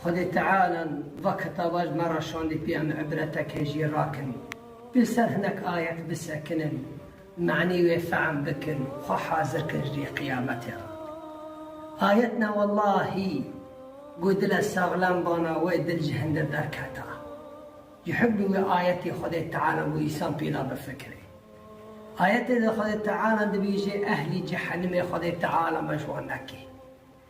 Xwedê Teala li va kitaba ji me re şandî pê em îbretekê jî rakin. Pê li ser hinek ayet bisekinin, manî wê fehm bikin û xwe hazir kin ji rê qiyametê re. Ayet ne wellahî ku dile saxlem bana wê dil ji hindir derketa. Ji hukmî wê ayetê Xwedê Teala bo însan pêda bifikire. Ayetê de Xwedê Teala dibêje ehlî cehenimê Xwedê Teala me ji wan neke.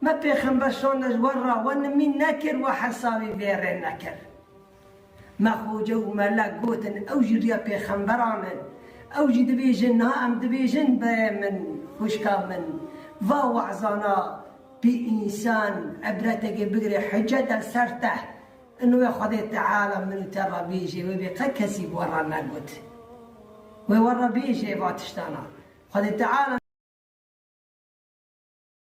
Me Pêxember şande ji we re, we nimîn nekir, we hesabî vê rê nekir. Me xoce û melek gotin ew jî riya pêxemberan in. Ew jî dibêjin niha em dibêjin berê min, xwişka min. Va wezana pê însan îbretekê bigire hucete ser te. Ino wê Xwedê Teala min û te re bêjê wê bê qet kesî bi we re negot. Wê we re bêjê va tiştana. Xwedê Teala.